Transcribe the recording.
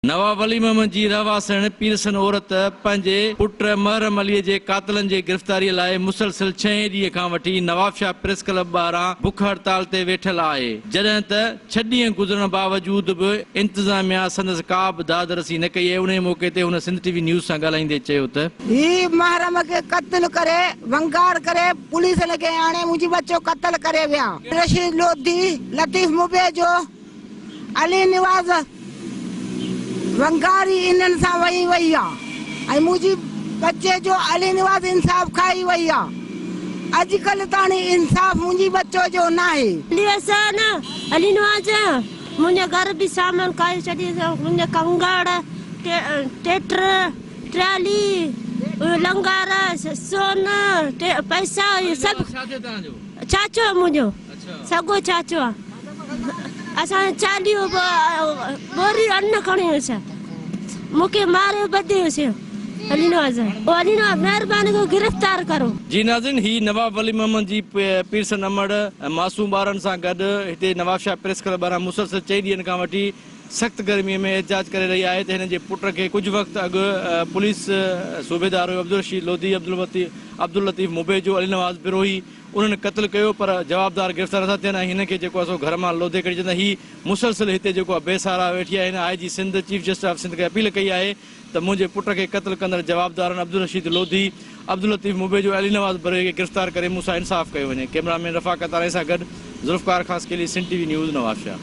نواب علي محمد جي رهواسڻ پيرسن عورت پنهنجي پٽ محرم علي جي قاتلن جي گرفتاري لاء مسلسل ڇهين ڏينهن کان وٺي نوابشاهه پريس ڪلب ٻاهران بک هڙتال تي ويٺل آهي جڏهن ته ڇهه ڏينهن گذرڻ باوجود به انتظاميا سندس ڪابه داد رسي نه ڪئي انهي موقعي تي هن سنڌ ٽي وي نيوز سان ڳالهائيندي چيو ته. هي محرم کي قتل ڪري ونگار ڪري پوليس لڳي آڻي منهنجي ٻچو قتل ڪري ويا رشيد لوڌي لطيف مبيجو. علي نواز ونگاري انهن سان وئي وئي آ ۽ منهنجي ٻچي جو علي نواز انصاف کائي وئي آ اڄ ڪلهه تاڻي انصاف منهنجي ٻچو جو ناهي. علي حسين علي نواز منهنجي گهر به سامان کائي ڇڏي منهنجي ڪنگڙ ٽيٽر ٽرالي لنگر سون پئسا سڀ ڇاڇو منهنجو. سگو چاچو اسان جو چاليهو به ٻوري ان کڻي هيس مون کي ماريو ٻڌي هيس علي نواز او علي نواز مهرباني ڪري گرفتار ڪرو. جي ناظرين هي نواب ولي محمد جي پيرسن امڙ ۽ معصوم ٻارڙن سان گڏ هتي نوابشاهه پريس ڪلب ٻاهران مسلسل چئي ڏينهن کان وٺي سخت گرمي ۾ احتجاج ڪري رهي آهي ته هنن جي پٽ کي ڪجهه وقت اڳ پوليس صوبيدار عبدالرشيد لوڌي، عبداللطيف مبيجو، علي نواز بروهي، انهن قتل ڪيو پر جوابدار گرفتار نٿا ٿين ۽ هن کي جيڪو آهي سو گهر مان لوڌي ڪڍي چئن ٿا هي مسلسل هتي جيڪو آهي بي سهارا ويٺي آهي هن I G Sindh chief justice of Sindh کي اپيل ڪئي آهي ته منهنجي پٽ کي قتل ڪندڙ جوابدارن عبدالرشيد لوڌي، عبداللطيف مبيجو ۽ علي نواز بروهي کي گرفتار ڪري مون سان انصاف ڪيو وڃي ڪيمرا مين رفاقت آرائي سان گڏ Zulfiqar Khaskheli Sindh T V news Nawabshah.